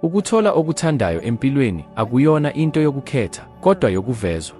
Ukuthola okuthandayo empilweni akuyona into yokukhetha, kodwa yokuvezwa.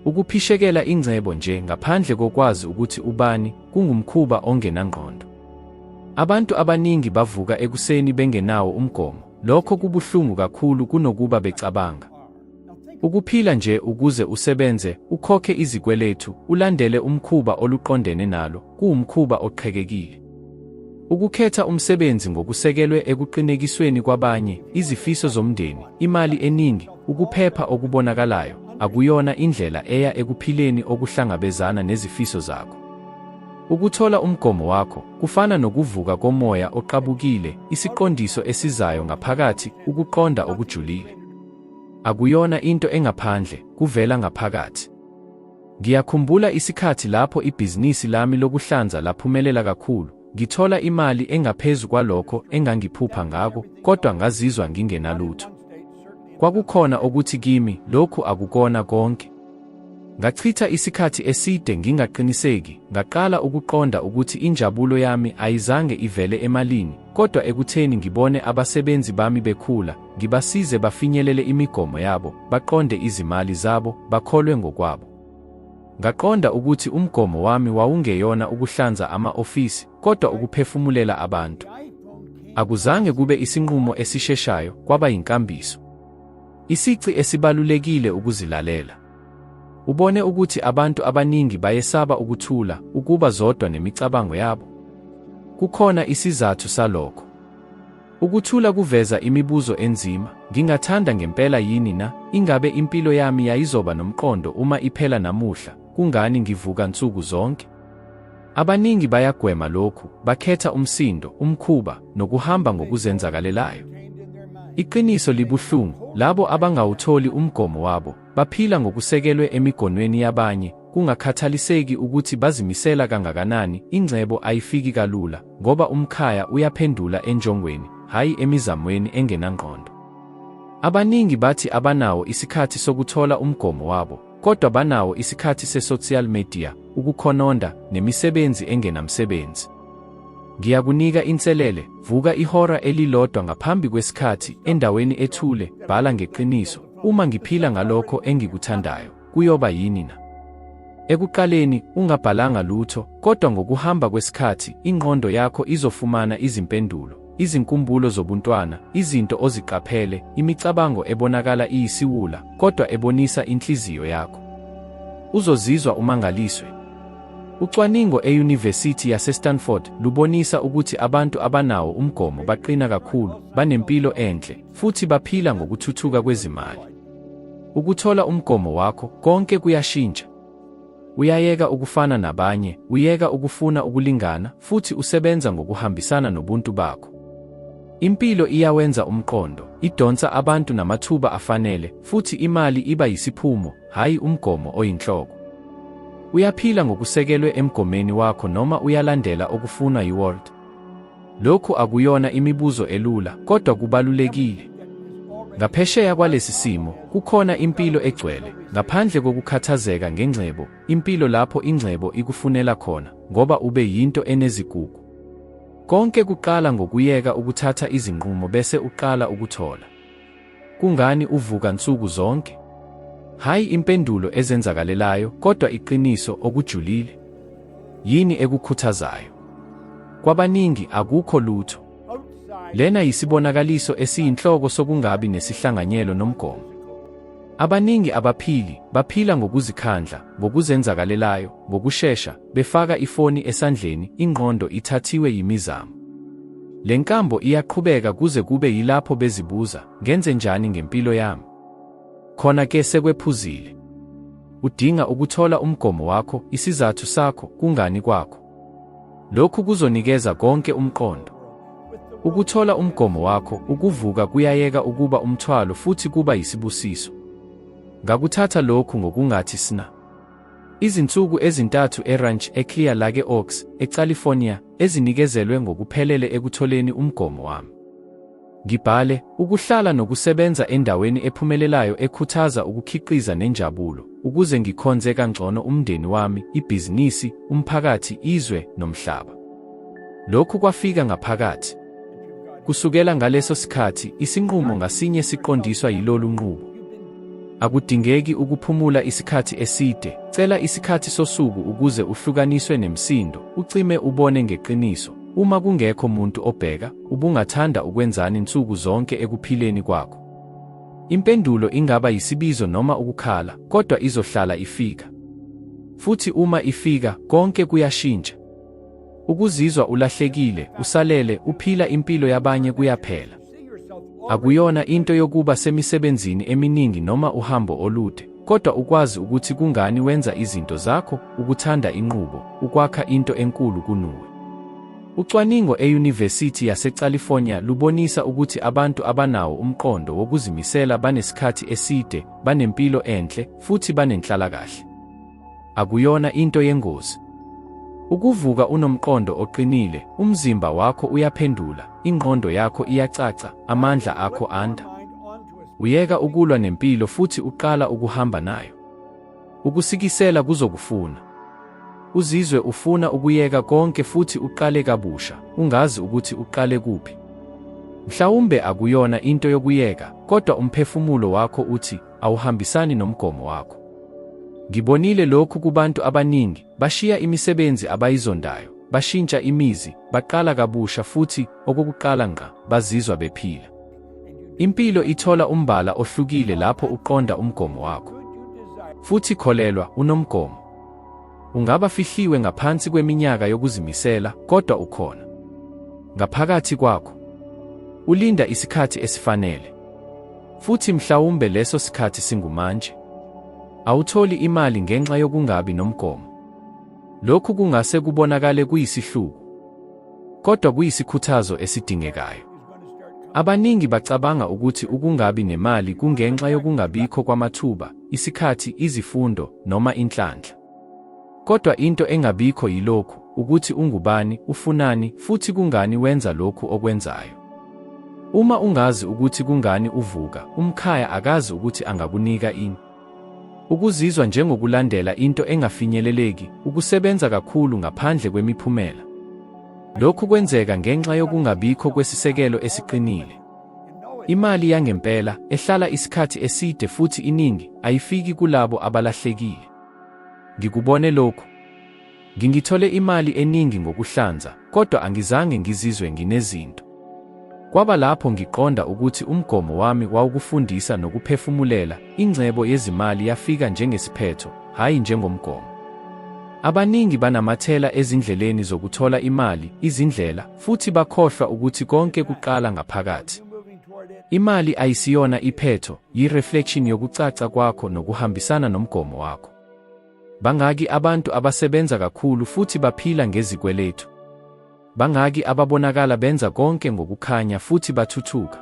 Ukuphishekela ingcebo nje ngaphandle kokwazi ukuthi ubani kungumkhuba ongenangqondo. Abantu abaningi bavuka ekuseni bengenawo umgomo. Lokho kubuhlungu kakhulu kunokuba becabanga. Ukuphila nje ukuze usebenze, ukhokhe izikweletu, ulandele umkhuba oluqondene nalo, kuwumkhuba oqhekekile. Ukukhetha umsebenzi ngokusekelwe ekuqinekisweni kwabanye, izifiso zomndeni, imali eningi, ukuphepha okubonakalayo, akuyona indlela eya ekuphileni okuhlangabezana nezifiso zakho. Ukuthola umgomo wakho kufana nokuvuka komoya oqabukile, isiqondiso esizayo ngaphakathi, ukuqonda okujulile. Akuyona into engaphandle, kuvela ngaphakathi. Ngiyakhumbula isikhathi lapho ibhizinisi lami lokuhlanza laphumelela kakhulu, ngithola imali engaphezu kwalokho engangiphupha ngako, kodwa ngazizwa ngingenalutho. Kwakukhona okuthi kimi, lokhu akukona konke. Ngachitha isikhathi eside ngingaqiniseki, ngaqala ukuqonda ukuthi injabulo yami ayizange ivele emalini, kodwa ekutheni ngibone abasebenzi bami bekhula, ngibasize bafinyelele imigomo yabo, baqonde izimali zabo, bakholwe ngokwabo. Ngaqonda ukuthi umgomo wami wawungeyona ukuhlanza ama-ofisi, kodwa ukuphefumulela abantu. Akuzange kube isinqumo esisheshayo, kwaba yinkambiso. Isici esibalulekile ukuzilalela. Ubone ukuthi abantu abaningi bayesaba ukuthula, ukuba zodwa nemicabango yabo. Kukhona isizathu salokho. Ukuthula kuveza imibuzo enzima, ngingathanda ngempela yini na? Ingabe impilo yami yayizoba nomqondo uma iphela namuhla? Kungani ngivuka nsuku zonke? Abaningi bayagwema lokhu, bakhetha umsindo, umkhuba, nokuhamba ngokuzenzakalelayo. Iqiniso libuhlungu, labo abangawutholi umgomo wabo, baphila ngokusekelwe emigonweni yabanye, kungakhathaliseki ukuthi bazimisela kangakanani, ingcebo ayifiki kalula, ngoba umkhaya uyaphendula enjongweni, hhayi emizamweni engenangqondo. Abaningi bathi abanawo isikhathi sokuthola umgomo wabo, kodwa banawo isikhathi se-social media, ukukhononda, nemisebenzi engenamsebenzi. Ngiyakunika inselele, vuka ihora elilodwa ngaphambi kwesikhathi, endaweni ethule, bhala ngeqiniso, uma ngiphila ngalokho engikuthandayo, kuyoba yini na? Ekuqaleni ungabhalanga lutho, kodwa ngokuhamba kwesikhathi inqondo yakho izofumana izimpendulo. izinkumbulo zobuntwana, izinto oziqaphele, imicabango ebonakala iyisiwula kodwa ebonisa inhliziyo yakho. Uzozizwa umangaliswe. Ucwaningo eYunivesithi yaseStanford lubonisa ukuthi abantu abanawo umgomo baqina kakhulu, banempilo enhle, futhi baphila ngokuthuthuka kwezimali. Ukuthola umgomo wakho konke kuyashintsha. Uyayeka ukufana nabanye, uyeka ukufuna ukulingana, futhi usebenza ngokuhambisana nobuntu bakho. Impilo iyawenza umqondo, idonsa abantu namathuba afanele, futhi imali iba yisiphumo, hhayi umgomo oyinhloko. Uyaphila ngokusekelwe emgomeni wakho noma uyalandela okufunwa yiWorld? Lokhu akuyona imibuzo elula, kodwa kubalulekile. Ngaphesheya kwalesi simo, kukhona impilo egcwele, ngaphandle kokukhathazeka ngengcebo, impilo lapho ingcebo ikufunela khona, ngoba ube yinto enezigugu. Konke kuqala ngokuyeka ukuthatha izinqumo bese uqala ukuthola. Kungani uvuka nsuku zonke? Hhayi impendulo ezenzakalelayo, kodwa iqiniso okujulile. Yini ekukhuthazayo? Kwabaningi akukho lutho. Lena yisibonakaliso esiyinhloko sokungabi nesihlanganyelo nomgomo. Abaningi abaphili baphila ngokuzikhandla, ngokuzenzakalelayo, ngokushesha, befaka ifoni esandleni, ingqondo ithathiwe yimizamo. Le nkambo iyaqhubeka kuze kube yilapho bezibuza, ngenze njani ngempilo yami? Khona ke sekwephuzile. Udinga ukuthola umgomo wakho, isizathu sakho, kungani kwakho. Lokhu kuzonikeza konke umqondo. Ukuthola umgomo wakho, ukuvuka kuyayeka ukuba umthwalo futhi kuba yisibusiso. Ngakuthatha lokhu ngokungathi sna. Izinsuku ezintathu eRanch eClear Lake Oaks, eCalifornia, ezinikezelwe ngokuphelele ekutholeni umgomo wami. Ngibhale, ukuhlala nokusebenza endaweni ephumelelayo ekhuthaza ukukhiqiza nenjabulo, ukuze ngikhonze kangcono umndeni wami, ibhizinisi, umphakathi, izwe, nomhlaba. Lokhu kwafika ngaphakathi. Kusukela ngaleso sikhathi, isinqumo ngasinye siqondiswa yilolu nqubo. Akudingeki ukuphumula isikhathi eside, cela isikhathi sosuku ukuze uhlukaniswe nemsindo, ucime ubone ngeqiniso. Uma kungekho muntu obheka, ubungathanda ukwenzani nsuku zonke ekuphileni kwakho? Impendulo ingaba yisibizo noma ukukhala, kodwa izohlala ifika. Futhi uma ifika, konke kuyashintsha. Ukuzizwa ulahlekile, usalele, uphila impilo yabanye kuyaphela. Akuyona into yokuba semisebenzini eminingi noma uhambo olude, kodwa ukwazi ukuthi kungani wenza izinto zakho, ukuthanda inqubo, ukwakha into enkulu kunuwe. Ucwaningo eYunivesithi yaseCalifornia lubonisa ukuthi abantu abanawo umqondo wokuzimisela banesikhathi eside, banempilo enhle, futhi banenhlalakahle. Akuyona into yengozi. Ukuvuka unomqondo oqinile, umzimba wakho uyaphendula, ingqondo yakho iyacaca, amandla akho anda. Uyeka ukulwa nempilo futhi uqala ukuhamba nayo. Ukusikisela kuzokufuna. Uzizwe ufuna ukuyeka konke futhi uqale kabusha, ungazi ukuthi uqale kuphi. Mhlawumbe akuyona into yokuyeka, kodwa umphefumulo wakho uthi awuhambisani nomgomo wakho. Ngibonile lokhu kubantu abaningi, bashiya imisebenzi abayizondayo, bashintsha imizi, baqala kabusha futhi okokuqala ngqa bazizwa bephila. Impilo ithola umbala ohlukile lapho uqonda umgomo wakho. Futhi kholelwa, unomgomo. Ungaba fihliwe ngaphansi kweminyaka yokuzimisela, kodwa ukhona ngaphakathi kwakho. Ulinda isikhathi esifanele, futhi mhlawumbe leso sikhathi singumanje. Awutholi imali ngenxa yokungabi nomgomo. Lokhu kungase kubonakale kuyisihluku, kodwa kuyisikhuthazo esidingekayo. Abaningi bacabanga ukuthi ukungabi nemali kungenxa yokungabikho kwamathuba, isikhathi, izifundo, noma inhlanhla. Kodwa into engabikho yilokhu, ukuthi ungubani, ufunani, futhi kungani wenza lokhu okwenzayo. Uma ungazi ukuthi kungani uvuka, umkhaya akazi ukuthi angakunika ini. Ukuzizwa njengokulandela into engafinyeleleki, ukusebenza kakhulu ngaphandle kwemiphumela. Lokhu kwenzeka ngenxa yokungabikho kwesisekelo esiqinile. Imali yangempela, ehlala isikhathi eside futhi iningi, ayifiki kulabo abalahlekile. Ngikubone lokhu. Ngingithole imali eningi ngokuhlanza, kodwa angizange ngizizwe nginezinto. Kwaba lapho ngiqonda ukuthi umgomo wami wawukufundisa nokuphefumulela, ingcebo yezimali yafika njengesiphetho, hhayi njengomgomo. Abaningi banamathela ezindleleni zokuthola imali, izindlela, Futhi bakhohlwa ukuthi konke kuqala ngaphakathi. Imali ayisiyona iphetho, yi-reflection yokucaca kwakho nokuhambisana nomgomo wakho. Bangaki abantu abasebenza kakhulu futhi baphila ngezikweletu? Bangaki ababonakala benza konke ngokukhanya futhi bathuthuka?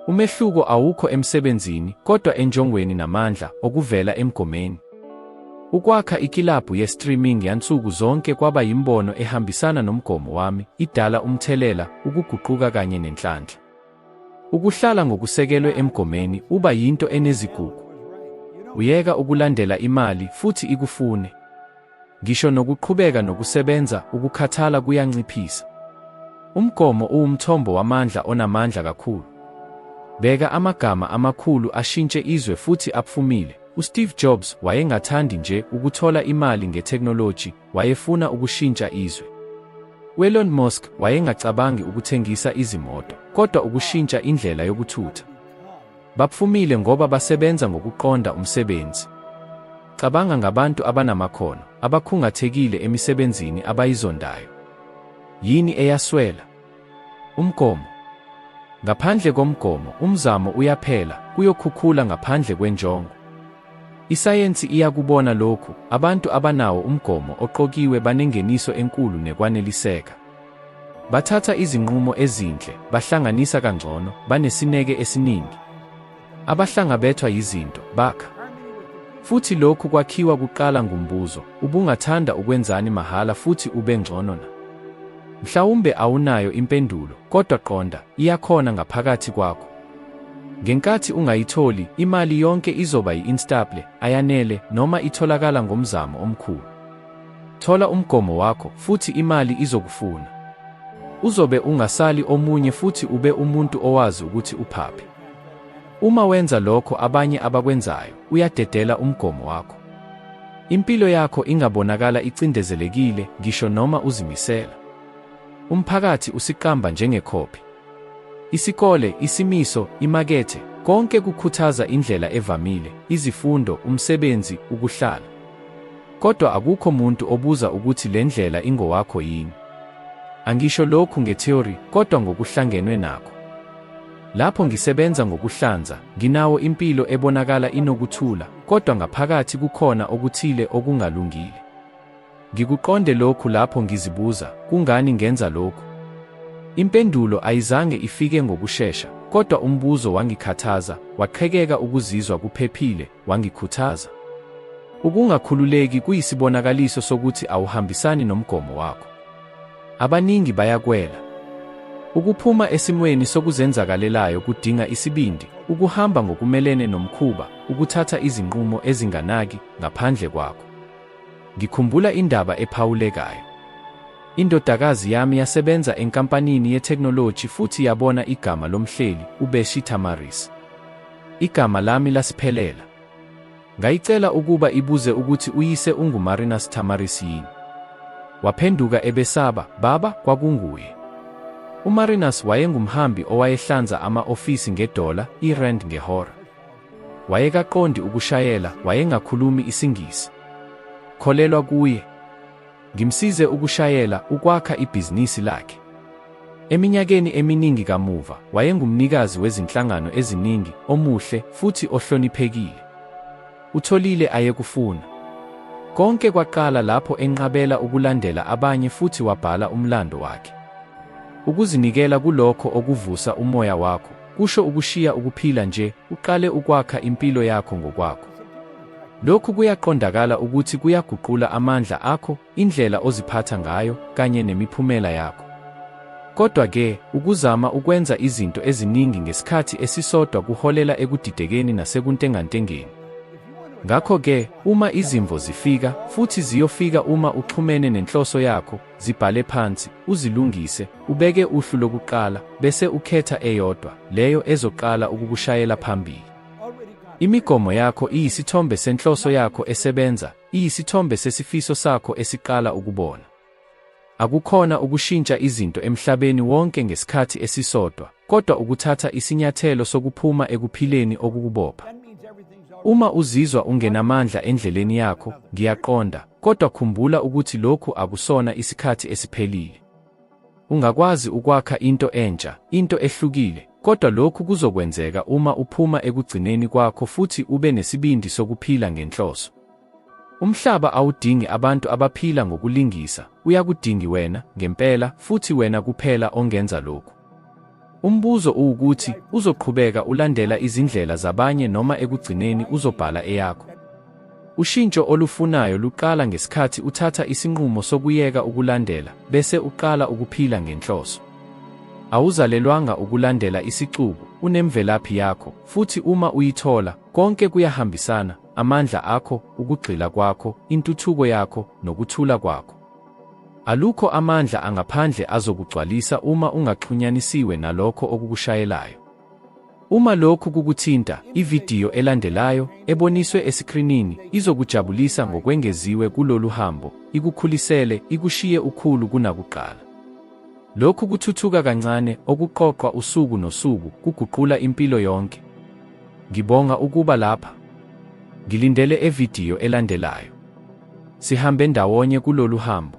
Umehluko awukho emsebenzini, kodwa enjongweni namandla okuvela emgomeni. Ukwakha ikilabhu ye-streaming yansuku zonke kwaba yimbono ehambisana nomgomo wami, idala umthelela, ukuguquka kanye nenhlanhla. Ukuhlala ngokusekelwe emgomeni uba yinto enezigugu. Uyeka ukulandela imali futhi ikufune. Ngisho nokuqhubeka nokusebenza, ukukhathala kuyanciphisa. Umgomo uwumthombo wamandla onamandla kakhulu. Bheka amagama amakhulu ashintshe izwe futhi apfumile. USteve Jobs wayengathandi nje ukuthola imali ngethekhnoloji, wayefuna ukushintsha izwe. UElon Musk wayengacabangi ukuthengisa izimoto, kodwa ukushintsha indlela yokuthutha. Bapfumile ngoba basebenza ngokuqonda umsebenzi. Cabanga ngabantu abanamakhono, abakhungathekile emisebenzini abayizondayo. Yini eyaswela? Umgomo. Ngaphandle komgomo, umzamo uyaphela, kuyokhukhula ngaphandle kwenjongo. Isayensi iyakubona lokhu, abantu abanawo umgomo oqokiwe banengeniso enkulu nekwaneliseka. Bathatha izinqumo ezinhle, bahlanganisa kangcono, banesineke esiningi. Abahlangabethwa yizinto bakha. Futhi lokhu kwakhiwa kuqala ngumbuzo, ubungathanda ukwenzani mahhala futhi ube ngcono na? Mhlawumbe awunayo impendulo, kodwa qonda, iyakhona ngaphakathi kwakho. Ngenkathi ungayitholi, imali yonke izoba yi-instable, ayanele, noma itholakala ngomzamo omkhulu. Thola umgomo wakho, futhi imali izokufuna. Uzobe ungasali omunye futhi ube umuntu owazi ukuthi uphaphi. Uma wenza lokho abanye abakwenzayo, uyadedela umgomo wakho. Impilo yakho ingabonakala icindezelekile ngisho noma uzimisela. Umphakathi usiqamba njengekhophi. Isikole, isimiso, imakethe, konke kukhuthaza indlela evamile, izifundo, umsebenzi, ukuhlala. Kodwa akukho muntu obuza ukuthi le ndlela ingowakho yini. Angisho lokhu ngetheory kodwa ngokuhlangenwe nakho. Lapho ngisebenza ngokuhlanza, nginawo impilo ebonakala inokuthula, kodwa ngaphakathi kukhona okuthile okungalungile. Ngikuqonde lokhu lapho ngizibuza, kungani ngenza lokhu? Impendulo ayizange ifike ngokushesha, kodwa umbuzo wangikhathaza, waqhekeka ukuzizwa kuphephile, wangikhuthaza. Ukungakhululeki kuyisibonakaliso sokuthi awuhambisani nomgomo wakho. Abaningi bayakwela. Ukuphuma esimweni sokuzenzakalelayo kudinga isibindi, ukuhamba ngokumelene nomkhuba, ukuthatha izinqumo ezinganaki ngaphandle kwakho. Ngikhumbula indaba ephawulekayo. Indodakazi yami yasebenza enkampanini yethekhnoloji futhi yabona igama lomhleli, uBeshi Tamaris. Igama lami laSiphelela. Ngayicela ukuba ibuze ukuthi uyise unguMarina Sithamaris yini. Waphenduka ebesaba, Baba, kwakunguye. UMarinas wayengumhambi owayehlanza ama-ofisi ngedola, irand ngehora. Wayekaqondi ukushayela, wayengakhulumi isiNgisi. Kholelwa kuye. Ngimsize ukushayela, ukwakha ibhizinisi lakhe. Eminyakeni eminingi kamuva, wayengumnikazi wezinhlangano eziningi, omuhle, futhi ohloniphekile. Utholile ayekufuna. Konke kwaqala lapho enqabela ukulandela abanye futhi wabhala umlando wakhe. Ukuzinikela kulokho okuvusa umoya wakho kusho ukushiya ukuphila nje, uqale ukwakha impilo yakho ngokwakho. Lokhu kuyaqondakala ukuthi kuyaguqula amandla akho, indlela oziphatha ngayo, kanye nemiphumela yakho. Kodwa-ke, ukuzama ukwenza izinto eziningi ngesikhathi esisodwa kuholela ekudidekeni nasekuntengantengeni. Ngakho-ke, uma izimvo zifika, futhi ziyofika uma uxhumene nenhloso yakho, zibhale phansi, uzilungise, ubeke uhlu lokuqala, bese ukhetha eyodwa, leyo ezoqala ukukushayela phambili. Imigomo yakho iyisithombe senhloso yakho esebenza, iyisithombe sesifiso sakho esiqala ukubona. Akukhona ukushintsha izinto emhlabeni wonke ngesikhathi esisodwa, kodwa ukuthatha isinyathelo sokuphuma ekuphileni okukubopha. Uma uzizwa ungenamandla endleleni yakho, ngiyaqonda, kodwa khumbula ukuthi lokhu akusona isikhathi esiphelile. Ungakwazi ukwakha into entsha, into ehlukile, kodwa lokhu kuzokwenzeka uma uphuma ekugcineni kwakho futhi ube nesibindi sokuphila ngenhloso. Umhlaba awudingi abantu abaphila ngokulingisa, uyakudingi wena ngempela, futhi wena kuphela ongenza lokhu. Umbuzo uwukuthi uzoqhubeka ulandela izindlela zabanye noma ekugcineni uzobhala eyakho. Ushintsho olufunayo luqala ngesikhathi uthatha isinqumo sokuyeka ukulandela bese uqala ukuphila ngenhloso. Awuzalelwanga ukulandela isixuku, unemvelaphi yakho, futhi uma uyithola, konke kuyahambisana, amandla akho, ukugxila kwakho, intuthuko yakho, nokuthula kwakho. Alukho amandla angaphandle azokugcwalisa uma ungaxhunyanisiwe nalokho okukushayelayo. Uma lokhu kukuthinta, ividiyo elandelayo, eboniswe esikrinini, izokujabulisa ngokwengeziwe kulolu hambo, ikukhulisele, ikushiye ukhulu kunakuqala. Lokhu kuthuthuka kancane, okuqoqwa usuku nosuku, kuguqula impilo yonke. Ngibonga ukuba lapha. Ngilindele evidiyo elandelayo. Sihambe ndawonye kulolu hambo.